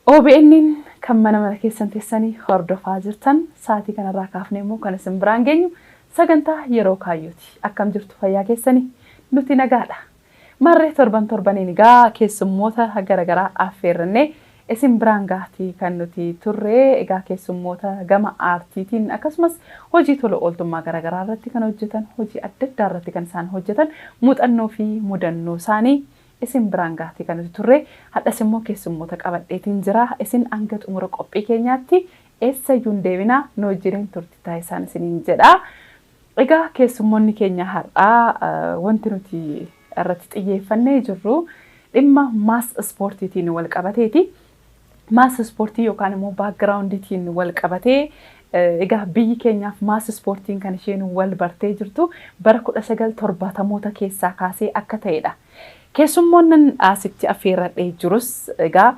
OBN'n kan mana mana keessan teessanii hordofaa jirtan sa'aatii kanarraa kaafnee immoo kan isin biraan geenyu sagantaa yeroo kaayyooti. Akkam jirtu fayyaa keessanii? Nuti nagaadha. Marree torban torbaniin egaa keessummoota garaagaraa affeerrannee Isin biraan gahati kan nuti turre egaa keessummoota gama aartiitiin akkasumas hojii tola ooltummaa garagaraa irratti kan hojjetan hojii adda addaa irratti kan isaan hojjetan muuxannoo fi mudannoo isaanii isin biraan gahati kan nuti turre hadhas immoo keessummoota qabadheetiin jira isin hanga xumura qophii keenyaatti eessayyuu hin deebinaa nu wajjiniin turti taasisaan isiniin jedha. Egaa keessummoonni keenya har'aa wanti nuti irratti xiyyeeffannee jirru dhimma maas ispoortiitiin wal qabateeti. Maas ispoortii yookaan immoo baakgiraawundiitiin wal qabatee egaa biyyi keenyaaf maas ispoortiin kan isheen wal bartee jirtu bara 1970moota keessaa kaasee akka ta'edha Keessummoonnan asitti affeerradhee jirus egaa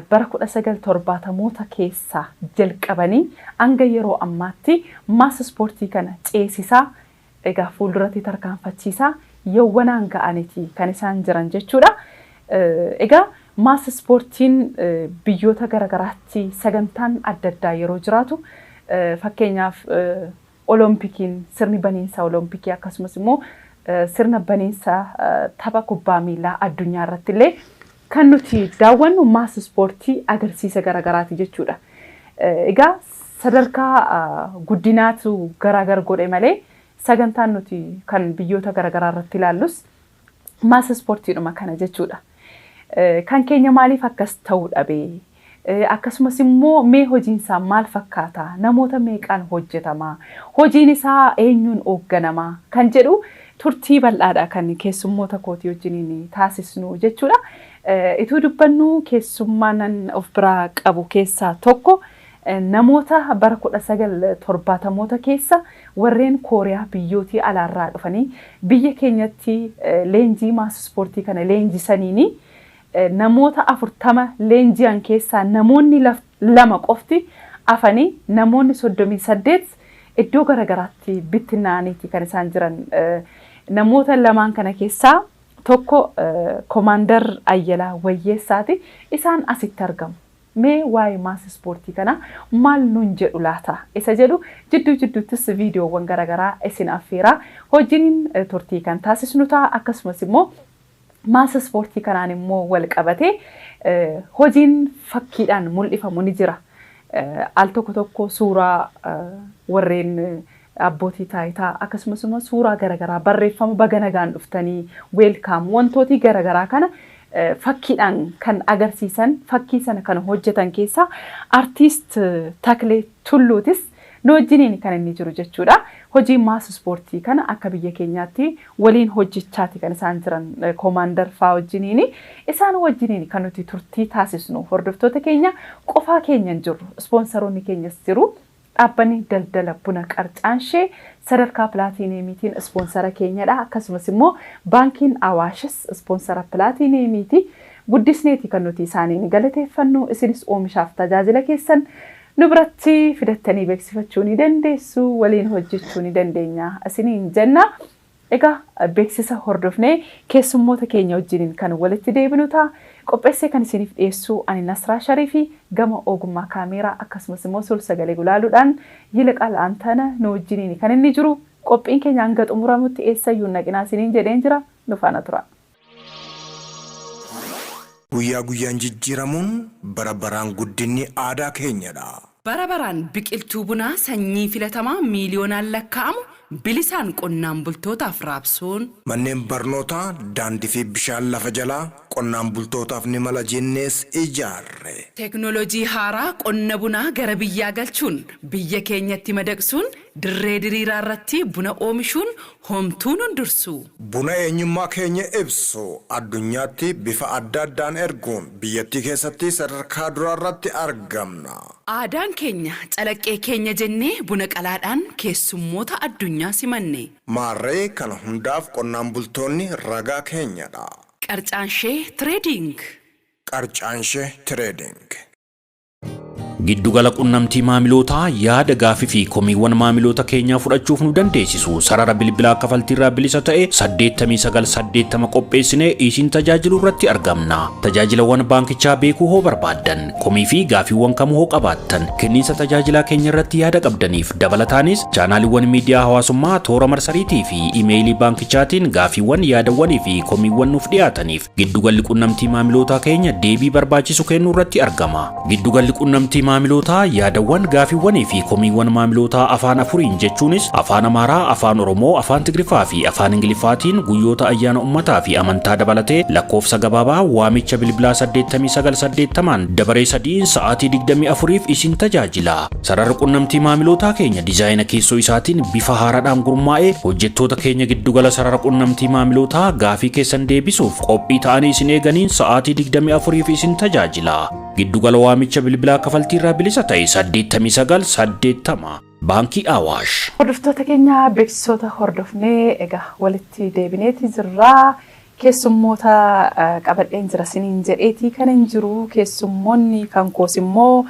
bara 1970moota keessaa jalqabanii hanga yeroo ammaatti mass ispoortii kana ceesisaa egaa fuulduratti tarkaanfachiisaa yowwanaan ga'aniti kan isaan jiran jechuudha. Egaa mass ispoortiin biyyoota garagaraatti sagantaan adda addaa yeroo jiraatu fakkeenyaaf Olompikiin, sirni baniinsa Olompikii akkasumas immoo sirna baniinsa tapha kubbaa miilaa addunyaa irratti illee kan nuti daawwannu maas ispoortii agarsiisa garagaraati jechuudha. Egaa sadarkaa guddinaatu garaagar godhe malee sagantaan nuti kan biyyoota garagaraa irratti ilaallus Ammaas ispoortiidhuma kana jechuudha. Kan keenya maaliif akkas ta'uu dhabe? Akkasumas immoo mee hojiin isaa maal fakkaata? Namoota meeqaan hojjetama? Hojiin isaa eenyuun hoogganama? Kan jedhu turtii bal'aadha kan keessummoota kootii wajjiniin taasisnu jechuudha. Ituu dubbannu keessummaanan of biraa qabu keessaa tokko Namoota bara 1970moota keessa warreen Kooriyaa biyyootii alaarraa dhufanii biyya keenyatti leenjii maas ispoortii kana leenjisaniini namoota 40 leenji'an keessaa namoonni lama qofti afanii namoonni 38 iddoo garagaraatti bittinnaa'aniiti kan isaan jiran. Namoota lamaan kana keessaa tokko Komaandar Ayyalaa Wayyeessaati. Isaan asitti argamu. Mee waa'ee mass ispoortii kanaa maal nuun jedhu laata isa jedhu jidduu jidduuttis viidiyoowwan gara garaa isin affeeraa hojiniin turtii kan taasisnu ta'a. Akkasumas immoo mass ispoortii kanaan immoo wal qabatee hojiin fakkiidhaan mul'ifamu ni jira. Al tokko tokko suuraa warreen Abbootii taayitaa akkasumas immoo suuraa garagaraa barreeffama baga nagaan dhuftanii, welcome, wantootii garagaraa kana fakkiidhaan kan agarsiisan fakkii sana kan hojjetan keessaa artiist Taklee Tulluutis nu wajjiniin kan inni jiru jechuudha. Hojii mass ispoortii kana akka biyya keenyaatti waliin hojjechaati kan isaan jiran Koomaandar faa wajjiniini. Isaan wajjiniin kan nuti turtii taasisnu hordoftoota keenya qofaa keenya hin jirru. Ispoonsaroonni keenyas jiru. Dhaabbanni daldala buna Qarcaanshee sadarkaa pilaatiiniyeemiitiin ispoonsara keenyadha. Akkasumas immoo Baankiin Awaashis ispoonsara pilaatiiniyeemiiti. Guddisneeti kan nuti isaaniin galateeffannu. Isinis oomishaaf tajaajila keessan nu biratti fidattanii beeksifachuu ni dandeessu, waliin hojjechuu ni dandeenya isiniin jenna. Egaa beeksisa hordofnee keessummoota keenya wajjiniin kan walitti deebinu ta'a. Qopheessee kan isiiniif dhiyeessu ani Nasraa Shariifi gama oogummaa kaameeraa akkasumas immoo sul-sagalee gulaaluudhaan Yiliqaal Antana nu wajjiniini kan inni jiru. Qophiin keenya hanga xumuramutti eessayyuu hin dhaqinaa isiniin jedheen jira. Nu faana turaa. Guyyaa guyyaan jijjiiramuun, bara baraan guddinni aadaa keenyadha! Bara baraan biqiltuu bunaa sanyii filatamaa miiliyoonaan lakkaa'amu bilisaan qonnaan bultootaaf raabsuun. Manneen barnootaa, daandii fi bishaan lafa jalaa qonnaan bultootaaf ni mala jennees ijaarre. Teknolojii haaraa qonna bunaa gara biyyaa galchuun, biyya keenyatti madaqsuun, dirree diriiraarratti buna oomishuun Homtuu nun dursuu! Buna eenyummaa keenya ibsu addunyaatti bifa adda addaan erguun biyyattii keessatti sadarkaa duraarratti argamna. Aadaan keenya calaqqee keenya jennee buna qalaadhaan keessummoota addunyaa simanne. Maarree kana hundaaf qonnaan bultoonni ragaa keenyadha. Qarcaanshee Trading. Qarcaanshee Trading. Giddugala qunnamtii maamilootaa yaada gaafii fi komiiwwan maamiloota keenyaa fudhachuuf nu dandeessisu sarara bilbilaa kafaltiirraa bilisa ta'e 8980 qopheessinee isin tajaajilu irratti argamna. Tajaajilawwan baankichaa beekuu hoo barbaaddan komii fi gaafiiwwan kamuu hoo qabaattan kenniinsa tajaajilaa keenya irratti yaada qabdaniif dabalataanis chaanaaliiwwan miidiyaa hawaasummaa toora marsariitii fi imeeyilii baankichaatiin gaafiiwwan yaadawwanii fi komiiwwan nuuf dhiyaataniif Giddugalli qunnamtii maamilootaa keenya deebii barbaachisu kennuu irratti argama. Giddugalli qunnamtii maamilootaa yaadawwan, gaafiiwwanii fi komiiwwan maamilootaa afaan afuriin jechuunis Afaan Amaaraa, Afaan Oromoo, Afaan Tigriffaa fi Afaan Ingiliffaatiin guyyoota ayyaana ummataa fi amantaa dabalatee lakkoofsa gabaabaa waamicha bilbilaa 89 80n dabaree sadiin sa'aatii 24f isin tajaajila. Sararri qunnamtii maamilootaa keenya dizaayina keessoo isaatiin bifa haaraadhaan gurmaa'ee hojjettoota keenya giddugala sarara qunnamtii maamilootaa gaafii keessan deebisuuf qophii ta'anii isin eeganiin sa'aatii 24f isin tajaajila. Giddugala waamicha bilbilaa kafaltii irraa bilisa ta'e 8980 Baankii Awaash. Hordoftoota keenya beeksisoota hordofnee egaa walitti deebineeti jirraa. Keessummoota qabadheen jira siniin jedheetii kanin jiru keessummoonni kan koos immoo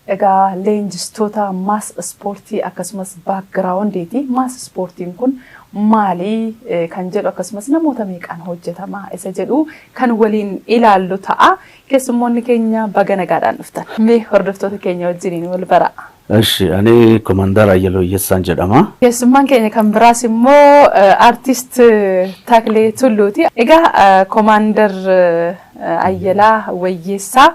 egaa leenjistoota maas ispoortii akkasumas baakgiraawundiiti. Maas ispoortiin kun maali kan jedhu akkasumas namoota meeqaan hojjetama isa jedhu kan waliin ilaallu ta'a. Keessummoonni keenya baga nagaadhaan dhuftan. Mee hordoftoota keenya wajjiniin wal baraa. Eshi ani Komandar Ayyaloo Iyyessaan jedhama. Keessummaan keenya kan biraas immoo Artist Taklee Tulluuti. Egaa Komaandar Ayyalaa Wayyeessaa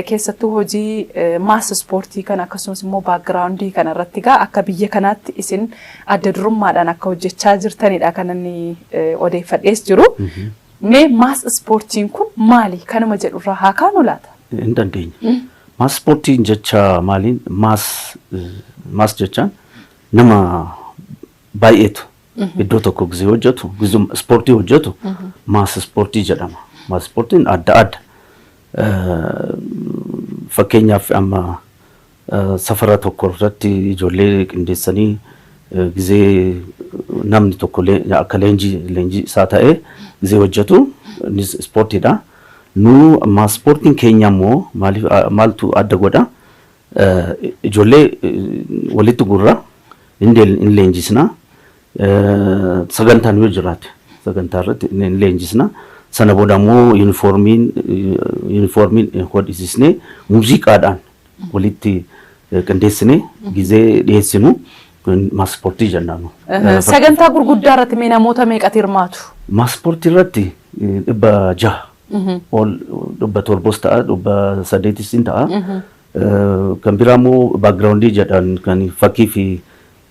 keessattuu hojii maas ispoortii kana akkasumas immoo baakgiraawundii kana irratti egaa akka biyya kanaatti isin adda durummaadhaan akka hojjechaa jirtanidha kan inni odeeffadhees jiru. Mee maas ispoortiin kun maali? Kanuma jedhurraa haa kaanu laata? Hin dandeenya. Maas ispoortiin jecha maaliin maas maas jechaan nama baay'eetu iddoo tokko gizee hojjetu gizee ispoortii hojjetu maas ispoortii jedhama. Maas ispoortiin adda adda. Eh, Fakkeenyaaf amma eh, safara tokko irratti ijoollee qindeessanii eh, gizee namni tokko lee- akka leenjii leenjii isaa ta'ee gizee hojjetu innis ispoortiidha. Nu maaspoortiin keenya ammoo maaliif maaltu adda godha? Ijoollee walitti guurra, hin leenjisna, sagantaan yoo jiraate sagantaa irratti hin leenjisna. Sana booda ammoo yuunifoormiin yuunifoormiin hodhisisnee muuziqaadhaan walitti qindeessinee gizee dhiyeessinu maaspoortii jennaan. Sagantaa gurguddaa irratti mee namoota meeqatu hirmaatu? Maaspoortii irratti dhibba jaha ol dhibba torbos ta'a dhibba saddeetis in ta'a. Kan biraa immoo baakgiraawundii jedhan kan fakkii fi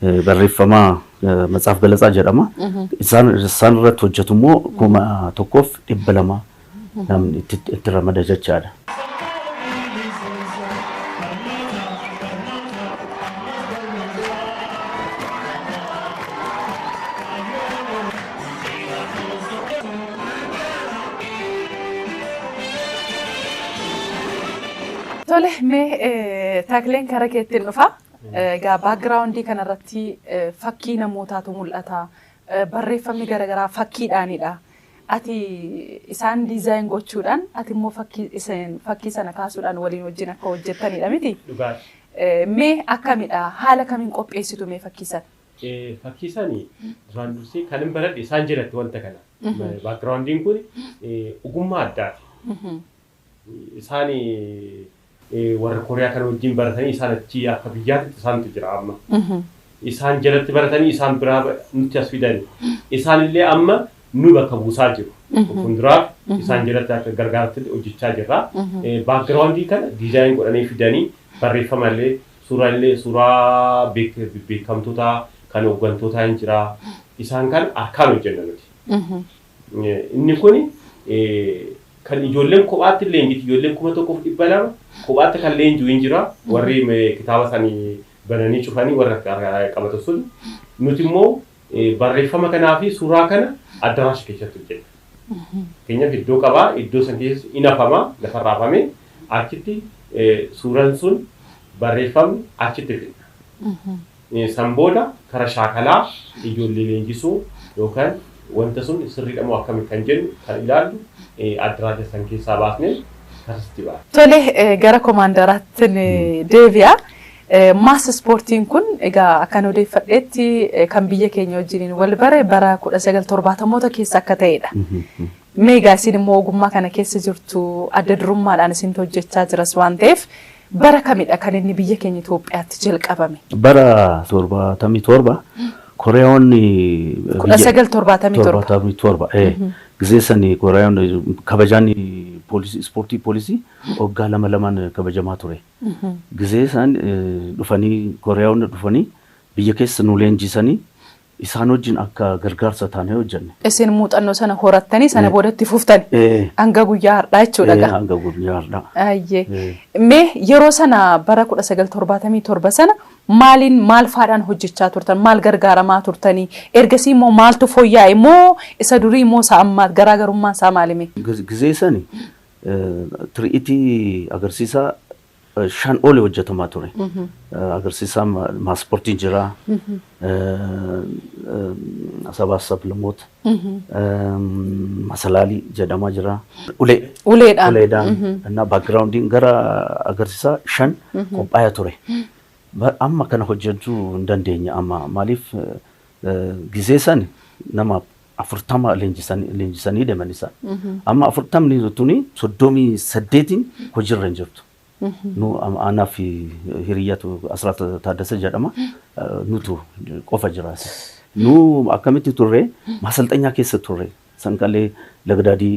eh, barreeffama eh, Matsaaf Galatsaa jedhama. Isaan isaan irratti hojjetu immoo kuma tokkoof dhibba lama namni itti itti ramada jechaadha. Tole mee eh, takleen kara keettiin dhufa. Egaa background kana irratti fakkii namootaatu mul'ata. Barreeffamni gara garaa fakkiidhaanidha. Ati isaan design gochuudhaan ati immoo fakkii isin fakkii sana kaasuudhaan waliin wajjin akka hojjettanidha miti? Dhugaa. Mee akkamidha? Haala kamiin qopheessitu mee fakkii sana? Fakkii sana duraan dursee kan hin baradhe isaan jalatti wanta kana. Background kun ogummaa addaati. Isaan warra Kooriyaa kana wajjin baratanii isaan achi akka biyyaatitti isaantu jira amma. Isaan jalatti baratanii isaan biraa nutti as fidani. Isaan illee amma nu bakka buusaa jiru. Fuulduraaf isaan jalatti akka gargaarratti hojjechaa jirra. Baakgiraawundii kana diizaayin godhanii fidanii barreeffama illee suuraa illee suuraa beekamtotaa kan hooggantootaa hin jira. Isaan kana harkaan hojjenna nuti. Inni kun kan ijoolleen kophaatti leenjitu ijoolleen 1200 kophaatti kan leenjuu hin jira warri kitaaba sani bananii cufanii warra qabatan sun nuti immoo barreeffama kanaa fi suuraa kana addaraasha keessatti hojjenna. Keenyaaf iddoo qabaa iddoo san keessatti in hafama lafarra hafame achitti suuraan sun barreeffamni achitti fidna. San booda kara shaakalaa ijoollee leenjisuu yookan wanta sun sirriidhamoo akkami kan jennu kan ilaallu addraja san keessaa baasne karsitti baana. Tole gara komaandaraattin deebi'a. Mass ispoortiin kun egaa akkan odeeffadheetti kan biyya keenya wajjiniin wal bare bara 1970moota keessa akka ta'eedha. Mee egaa isin immoo ogummaa kana keessa jirtu adda durummaadhaan isintu hojjechaa jiras waan ta'eef Bara kamidha kan inni biyya keenya Itoophiyaatti jalqabame? Bara 77 Koreeyoonni Kudha biyya- sagal torbaatamii torba. torbaatamii torba. ee. Gisee sani Koreeyoonni kabajaan poolisii ispoortii poolisii waggaa lama lamaan kabajamaa ture. Gisee isaan eh, dhufanii Koreeyoonni dhufanii biyya keessa nu leenjisanii Isaan wajjin akka gargaarsa taanee hojjenne. Isin muuxannoo sana horattanii sana booda itti fuftani. Ee, Hanga guyyaa har'aa jechuudha ee, gaa. hanga guyyaa har'aa. Ayyee. Ee. Mee yeroo sana bara 1977 sana maaliin maal faadhaan hojjechaa turtan? Maal gargaaramaa turtanii? Ergasii immoo maaltu fooyya'e? Moo isa durii moo isa ammaa garaagarummaan isaa maali mee? Giz- Gizee sani eh, tiri'itii agarsiisaa eh, shan oli hojjetamaa ture. Eh, Agarsiisaa ma- maaspoortiin jira. Eh, eh, Sabaa sablamoota. Eh, Masalaalii jedhamaa jira. Ulee. Uleedhaan. Uleedhaan. Innaa baakgiraawundiin gara agarsiisaa shan qophaa'ee ture. Ba- Amma kana hojjechuu hin dandeenye amma maaliif eh, eh, gizee san nama 40 leenjisanii deman isaan. Amma 40ni tuni 38n hojirra hin jirtu. Nu aanaa fi hiriyyatu Asraat Taaddasa jedhama. Nutu qofa jiraas. Nu akkamitti turre maasalxanyaa keessa turre. Sanqalee Lagdaadii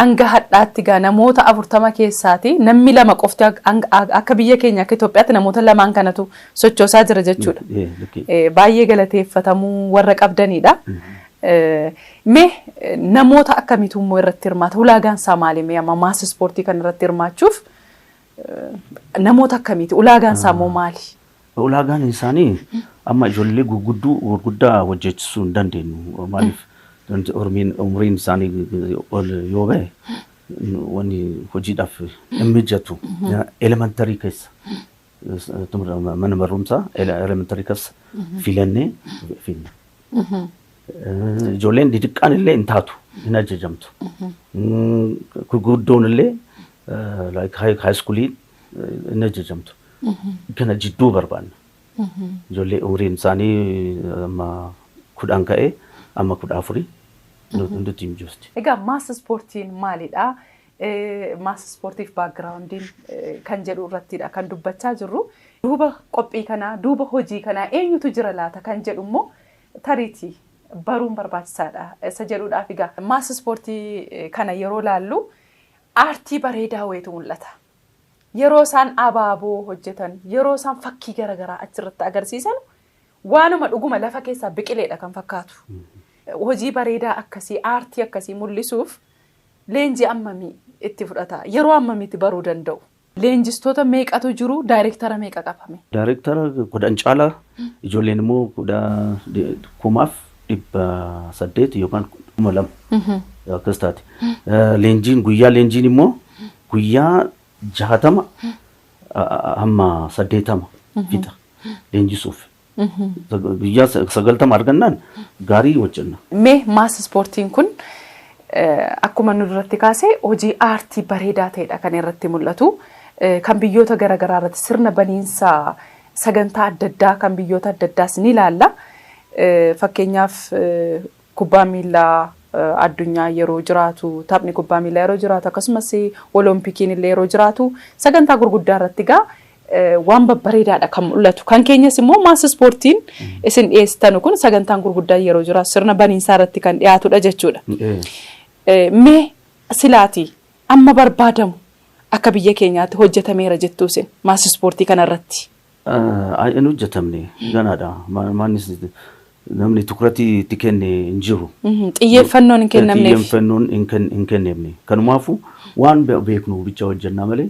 Hanga hadhaatti gaa namoota 40 keessaati nammi 2 qofti akka biyya keenya akka Itoophiyaatti namoota lamaan kanatu sochoosaa jira jechuudha. Baay'ee galateeffatamuu warra qabdaniidha. Mee namoota akkamiitu immoo irratti hirmaata? Ulaagaan isaa maali mee amma maas ispoortii kana irratti hirmaachuuf? Namoota akkamiiti? Ulaagaan isaa immoo maali? Ulaagaan isaanii amma ijoollee gurgudduu gurguddaa hojjechisuu hin dandeenyu. Maaliif Oromiin umriin isaanii ol yoo ba'e wanni hojiidhaaf hin mijatu. Elementarii keessa mana barumsaa elementarii keessa filannee finna. Ijoolleen didiqqaan illee hin taatu, hin ajajamtu. Gurguddoon illee haayiskuulii hin ajajamtu. Kana jidduu barbaanna. Ijoollee umriin isaanii amma kudhan ka'ee amma kudha afurii nutti hin jirti. Egaa maas ispoortiin maalidha? Mass Ispoortiif Baakgiraawundiin kan jedhu irrattiidha kan dubbachaa jirru. Duuba qophii kanaa, duuba hojii kanaa eenyutu jira laata kan jedhu immoo tariitii baruun barbaachisaadha isa jedhuudhaaf egaa Mass Ispoortii kana yeroo ilaallu aartii bareedaa wayiitu mul'ata. Yeroo isaan abaaboo hojjetan, yeroo isaan fakkii gara garaa achirratti agarsiisanu waanuma dhuguma lafa keessaa biqileedha kan fakkaatu. Hojii bareedaa akkasii, aartii akkasii mul'isuuf Leenjii ammamii itti fudhata? Yeroo ammamiitti baruu danda'u? Leenjistoota meeqatu jiru? Daayrektara meeqa qaba mee? Daayrektara 10 caala, ijoolleen immoo 1800 yookaan 2000 akkas taati. Leenjiin guyyaa leenjiin immoo guyyaa 60 hamma 80 fixa leenjisuuf. Guyyaa 90 argannaan gaarii hojjenna. Mee maas ispoortiin kun akkuma nu duratti kaase hojii aartii bareedaa ta'edha kan irratti mul'atu. Kan biyyoota garaagaraa irratti sirna baniinsa sagantaa adda addaa kan biyyoota adda addaas ni ilaalla. Fakkeenyaaf Kubbaan miillaa addunyaa yeroo jiraatu, taphni kubbaa miillaa yeroo jiraatu, akkasumas Oloompikiin illee yeroo jiraatu sagantaa gurguddaa irratti egaa waan babbareedaadha kan mul'atu. Kan keenyas immoo maas ispoortiin isin dhiyeessitanu kun sagantaan gurguddaan yeroo jiraatu sirna baniinsaa irratti kan dhiyaatudha jechuudha. Mee silaati amma barbaadamu akka biyya keenyaatti hojjetameera jettuu isin maas ispoortii kana irratti hin hojjetamne ganaadha. Mannis namni tukuratii itti kenne hin jiru. Xiyyeeffannoon hin kennamneef. Xiyyeeffannoon hin kennamne. Kanumaafuu waan beeknu bicha hojjennaa malee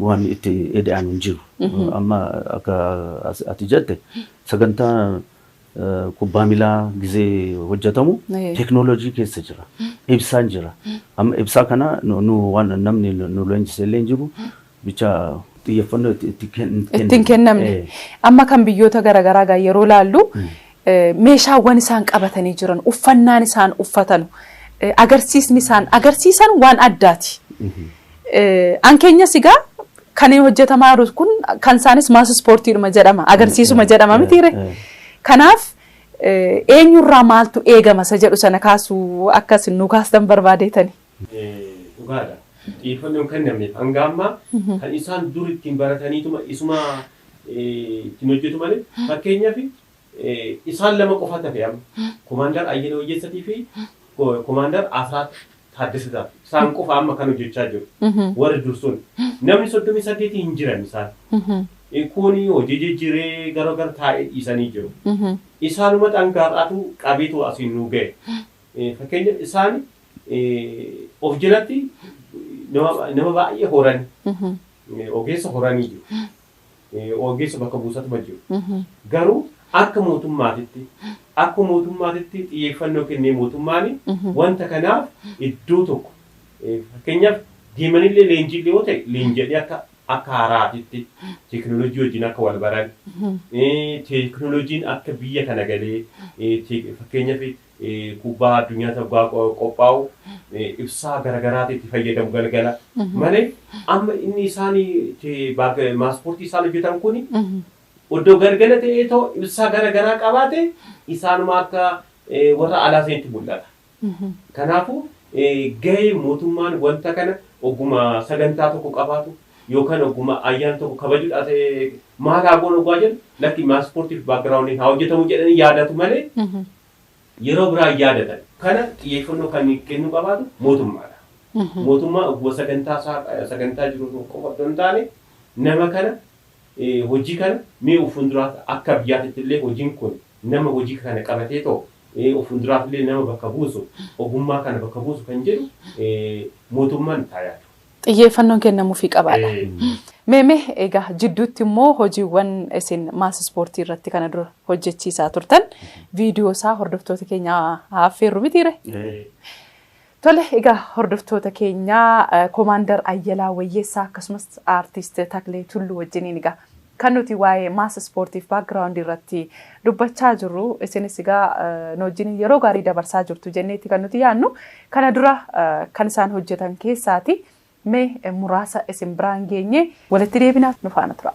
waan itti eda'an hin jiru. Amma akka ati jette sagantaa kubbaa milaa gizee hojjetamu teeknooloojii keessa jira. Ibsaan jira. Amma ibsaa kana nu waan namni nu leenjise illee hin jiru. bicha xiyyeeffannoo itti itti ken- itti hin kennamne. kennamne. Eh, Amma kan biyyoota garaagaraa gaa yeroo laallu eh, meeshaawwan isaan qabatanii jiran, uffannaan isaan uffatanu, eh, agarsiisni isaan agarsiisan waan addaati. Eh, An keenyas egaa kan hojjetamaa jiru kun kan isaanis maas ispoortiidhuma jedhama, agarsiisuma jedhama miti ree. eh. Kanaaf eh, eenyurraa maaltu eegama isa jedhu sana kaasuu akka isin nu kaastan barbaadeetani. Dhugaadha. Xiyyeeffannoo hin kennamneef hanga ammaa kan isaan dur ittiin barataniituma isuma ittiin hojjetu malee fakkeenyaaf isaan lama qofaatu hafe amma Komaandar Ayyala Wayyeessatii fi Komaandar Asraat Taaddasataa isaan qofa amma kan hojjechaa jiru warri dur sun namni soddomii saddeetii hin jiran isaan kuuni hojii jijjiiree gara gara taa'ee dhiisanii jiru isaanuma dhangaar'aatu qabeetu asiin nuu ga'e Fakkeenyaaf isaan of jalatti nama baay'ee horani. Ogeessa horanii jiru. Ogeessa bakka buusatuma jiru. Garuu akka mootummaatitti akka mootummaatitti xiyyeeffannoo kennee mootummaan wanta kanaaf iddoo tokko fakkeenyaaf deemanillee leenjiillee yoo ta'e leenji'anii akka akka haaraatitti teekinooloojii wajjin akka wal baran teekinooloojiin akka biyya kana galee fakkeenyaaf kubbaa addunyaati hoggaa qophaa'u ibsaa garagaraati itti fayyadamu galgala malee amma inni isaan itti maaspoortii isaan hojjetan kun oddoo galgala ta'ee too ibsaa garagaraa qabaate isaanuma akka warra alaa sanitti mul'ata. Kanaafuu gahee mootummaan wanta kana ogguma sagantaa tokko qabaatu yookaan ogguma ayyaana tokko kabajuudhaaf maal haa goonu oggaa jennu lakki maa ispoortiif backgroundiin haa hojjetamu jedhanii yaadatu malee yeroo biraa hin yaadatan. Kana xiyyeeffannoo kan kennuu qabaatu mootummaadha. Mootummaa ogguma sagantaa isaa sagantaa jiru tokko qofa otoo hin taane nama kana hojii kana mee of fuulduraatti akka biyyaatitti illee hojiin kun nama hojii kana qabatee too of fuulduraaf illee nama bakka buusu ogummaa kana bakka buusu kan jedhu mootummaan itti haa yaadu. Xiyyeeffannoon kennamuufii qabaadha. Mee mee egaa jidduutti immoo hojiiwwan isin maas ispoortii irratti kana dura hojjechiisaa turtan viidiyoo isaa hordoftoota keenya affeerru mitiire? Tole egaa hordoftoota keenya komaandar Ayyalaa Wayyeessaa akkasumas aartiist Taklee Tulluu wajjiniin egaa Kan nuti waa'ee mass ispoortiif background irratti dubbachaa jirru isinis egaa nu wajjin yeroo gaarii dabarsaa jirtu jenneeti kan nuti yaannu kana dura kan isaan hojjetan keessaati mee muraasa isin biraan geenye walitti deebina nu faana tura.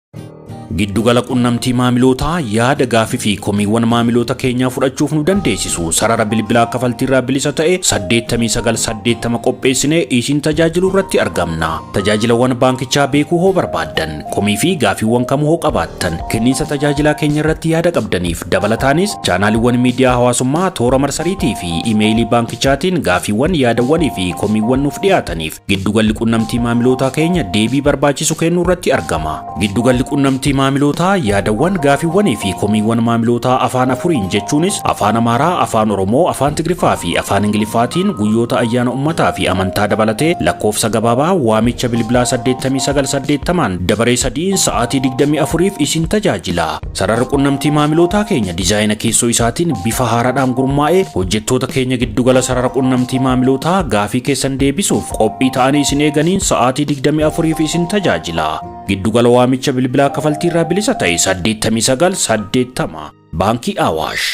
Giddugala qunnamtii maamilootaa yaada gaafii fi komiiwwan maamiloota keenyaa fudhachuuf nu dandeessisu sarara bilbilaa kafaltiirraa bilisa ta'e 8980 qopheessinee isin tajaajilu irratti argamna. Tajaajilawwan baankichaa beekuu hoo barbaaddan komii fi gaafiiwwan kamuu hoo qabaattan kenniinsa tajaajilaa keenya irratti yaada qabdaniif dabalataanis chaanaaliiwwan miidiyaa hawaasummaa toora marsariitii fi imeeyilii baankichaatiin gaafiiwwan yaadawwanii fi komiiwwan nuuf dhiyaataniif Giddugalli qunnamtii maamilootaa keenya deebii barbaachisu kennuu irratti argama. Giddugalli qunnamtii maamilootaa yaadawwan, gaafiiwwanii fi komiiwwan maamilootaa afaan afuriin jechuunis afaan Amaaraa, afaan Oromoo, afaan Tigriffaa fi afaan Ingiliffaatiin guyyoota ayyaana ummataa fi amantaa dabalatee lakkoofsa gabaabaa waamicha bilbilaa 8980n dabaree sadiin sa'aatii 24f isin tajaajila. Sararri qunnamtii maamilootaa keenya dizaayina keessoo isaatiin bifa haaraadhaan gurmaa'ee hojjettoota keenya giddugala sarara qunnamtii maamilootaa gaafii keessan deebisuuf qophii ta'anii isin eeganiin sa'aatii 24f isin tajaajila. Giddugala waamicha bilbilaa kafaltii irraa bilisa ta'e 8980 Baankii Awaash.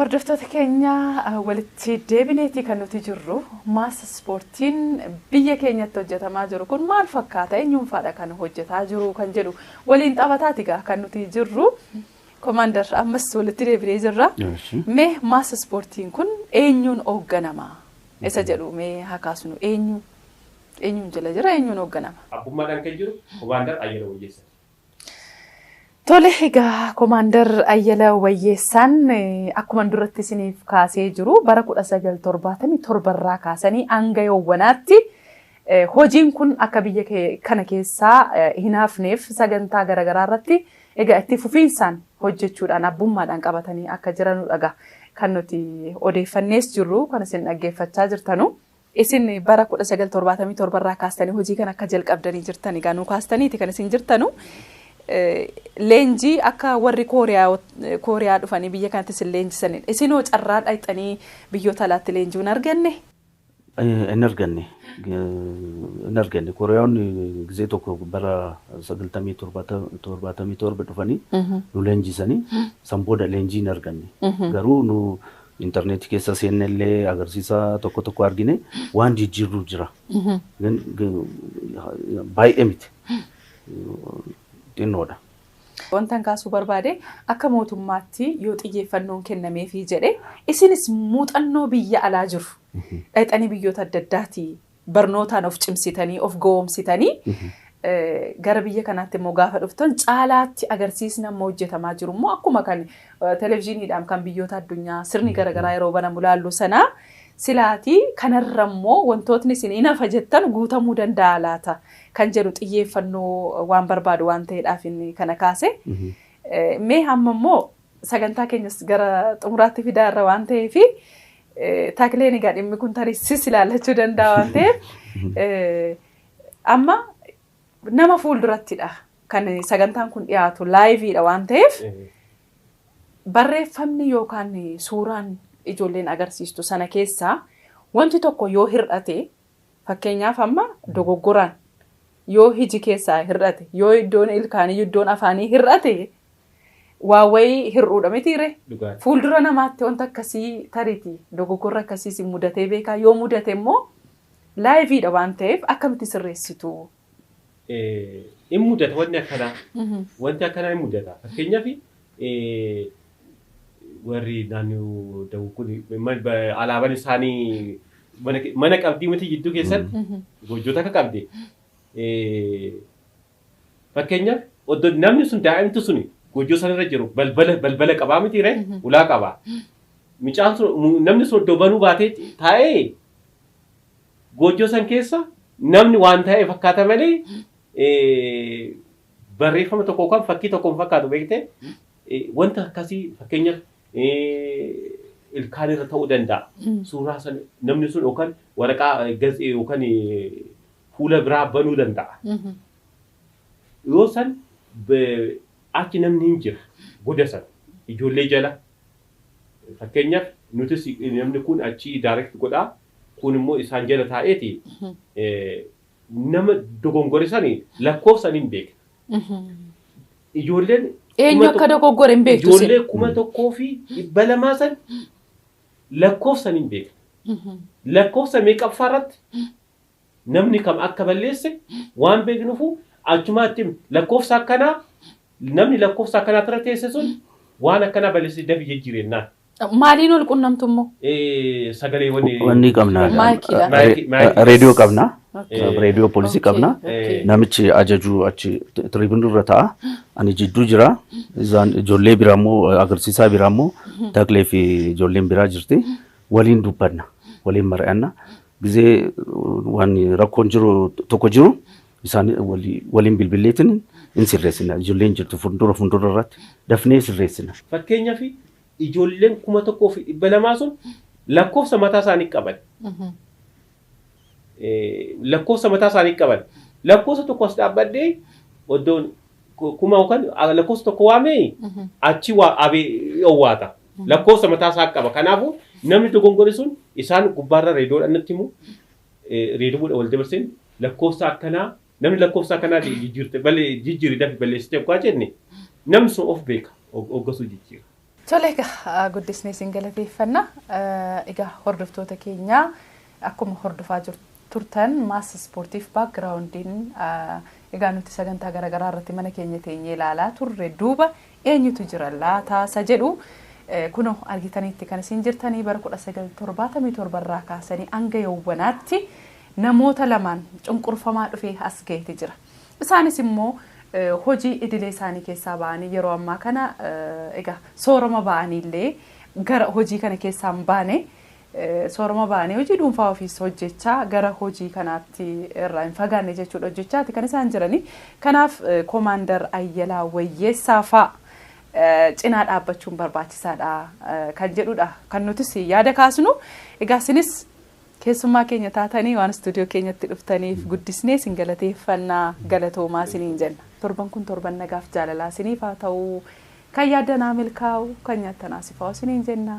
Hordoftoota keenya walitti deebineetii kan nuti jirru maas ispoortiin biyya keenyatti hojjetamaa jiru kun maal fakkaata eenyuunfaadha kan hojjetaa jiru kan jedhu waliin taphataati gaa kan nuti jirru komaandar ammas walitti deebinee jirra mee maas ispoortiin kun eenyuun hoogganama isa jedhu mee haa kaasnu eenyu eenyuun jala jira eenyuun hoogganama. Abbummaadhaan kan jiru komaandar Ayyala Wayyeessati. Tole egaa Komaandar Ayyala Wayyeessaan akkuma duratti isiniif kaasee jiru bara 1977 irraa kaasanii hanga yoowwanaatti hojiin kun akka biyya kana keessaa hin hafneef sagantaa garaagaraa irratti egaa itti fufiinsaan hojjechuudhaan abbummaadhaan qabatanii akka jiranudha egaa kan nuti odeeffannees jirru kan isin dhaggeeffachaa jirtanu. Isin bara 1977 irraa kaastanii hojii kana akka jalqabdanii jirtan egaa nuu kaastaniiti kan isin jirtanu. Leenjii akka warri Kooriyaa dhufanii biyya kanatti isin leenjisaniin isinoo carraa dhaqxanii biyyoota alaatti leenjii hin arganne? Hin arganne. Hin arganne. Kooriyaawonni gizee tokko bara 97 dhufanii nu leenjisanii san booda leenjii hin arganne. Garuu nu Internet keessa seenne illee agarsiisa tokko tokko argine waan jijjiirru jira. Gan- g- Baay'ee miti. Xinnoodha. Wantan kaasuu barbaade akka mootummaatti yoo xiyyeeffannoon kennameefii jedhe isinis muuxannoo biyya alaa jiru dhaqxanii biyyoota adda addaatii barnootaan of cimsitanii, of gowomsitanii gara biyya kanaatti immoo gaafa dhuftan caalaatti agarsiisni amma hojjetamaa jiru immoo akkuma kan televizyiiniidhaan kan biyyoota addunyaa sirni garaagaraa yeroo banamu laallu sana silaatii kanarra immoo wantootni isin hin hafa jettan guutamuu danda'a laata kan jedhu xiyyeeffannoo waan barbaadu waan ta'eedhaaf inni kana kaase. Mee hamma immoo Sagantaa keenyas gara xumuraatti fidaa irra waan ta'eef takleen egaa dhimmi kun tarii sis ilaallachuu danda'a waan ta'eef amma nama fuuldurattidha kan sagantaan kun dhiyaatu laayiviidha waan ta'eef barreeffamni yookaan suuraan ijoolleen agarsiistu sana keessaa wanti tokko yoo hir'ate Fakkeenyaaf amma dogoggoraan yoo hiji keessaa hir'ate, yoo iddoon ilkaanii, iddoon afaanii hir'ate waa wayii hir'uudha mitii ree? Dhugaadha. Fuuldura namaatti wanta akkasii tariiti dogoggorri akkasii isin mudatee beekaa? Yoo mudate immoo laayiviidha waan ta'eef akkamitti sirreessitu? in mudata wanni akkanaa. Wanti akkanaa in mudata. Fakkeenyaaf warri naannoo dawuu kun alaabaan isaanii mana qabdii miti jidduu keessan goojjota akka qabde. Fakkeenyaaf oddo namni sun daa'imtu sun goojjoo sanarra jiru balbala balbala qabaa miti ree ulaa qabaa. Mucaan sun namni sun oddo banuu baatee taa'ee Goojjoo san keessa namni waan taa'e fakkaata malee barreeffama tokko yookaan fakkii tokko hin fakkaatu beekte wanta akkasii fakkeenyaaf ilkaan irra ta'uu danda'a. Suuraa san namni sun yookaan waraqaa gatsee yookaan fuula biraa banuu danda'a. Yoo san achi namni hin jira goda san ijoollee jala fakkeenyaaf nutis namni kun achi direct godhaa Kuun immoo isaan jala taa'eeti nama dogongore sani lakkoofsan hin beekna. Ijoolleen Eenyu kuma akka dogoggore hin beektu isin. ijoollee kuma tokkoo fi dhibba lamaa san lakkoofsan hin beekna. Lakkoofsa meeqaffaa irratti namni kam akka balleesse waan beeknufu achumaatti lakkoofsa akkanaa namni lakkoofsa akkanaa irra teesse sun waan akkanaa balleesse dafi jijjiirennaan. Maaliin ol qunnamtu immoo? Sagaleewwan Wanni qabna. Maayikiidha. Maayikii- Re- maayikii- Reediyoo qabna. Okay. Reediyoo poolisii Okay, qabna. okay. Namichi ajajuu achi tiriibinii irra ta'a. Ani jidduu jira. Isaan ijoollee biraa immoo agarsiisaa biraa immoo Taklee fi ijoolleen biraa jirti. Waliin dubbanna. Waliin mari'anna. Gizee waan rakkoon jiru tokko jiru isaan walii- waliin bilbilleetiin hin sirreessina. Ijoolleen jirtu fuuldura fuuldura irratti dafnee sirreessina. Fakkeenyaaf Ijoolleen 1200 sun lakkoofsa mataa isaanii qaban. Lakkoofsa mataa isaanii qaban. Lakkoofsa tokko as dhaabbadhee oddoon kuma yookaan lakkoofsa tokko waamee achi abee owwaata. Lakkoofsa mataa isaa qaba. Kanaafuu namni dogongore sun isaan gubbaarra reedoodhaan natti himu reedoodhaan wal dabarseen lakkoofsa akkanaa Namni lakkoofsa akkanaa ta'e jijjiirte bale jijjiiri dafi balleessite oggaa jenne namni sun of beeka og- oggasuu jijjiira. Tole egaa guddisnee isin galateeffanna. Eh, Egaa hordoftoota keenya akkuma hordofaa jir- turtan maas ispoortiif baakgiraawundiin eh, egaa nuti sagantaa garaagaraa irratti mana keenya teenyee ilaalaa turre duuba eenyutu jira laata isa jedhu kunoo argitaniitti kan isin jirtanii bara 1977 irraa kaasanii hanga yowwanaatti namoota lamaan cunqurfamaa dhufee as gaheeti jira. Isaanis immoo hojii idilee isaanii keessaa ba'anii yeroo ammaa kana egaa soorama ba'aniillee gara hojii kana keessaa hin baane. Sooroma ba'anii hojii dhuunfaa ofiis hojjechaa gara hojii kanaatti irraa hin fagaanne jechuudha hojjechaati kan isaan jiranii. Kanaaf Komaandar Ayyalaa Wayyeessaa fa'a cinaa dhaabbachuun barbaachisaadha kan jedhudha kan nutis yaada kaasnu. Egaa isinis keessummaa keenya taatanii waan istuudiyoo keenyatti dhuftaniif guddisnee isin galateeffannaa galatoomaa isiniin jenna. Torban kun torban nagaaf jaalalaa isiniif haa ta'u. Kan yaaddanaa milkaa'u kan nyaattanaa sifaa'u isiniin jenna.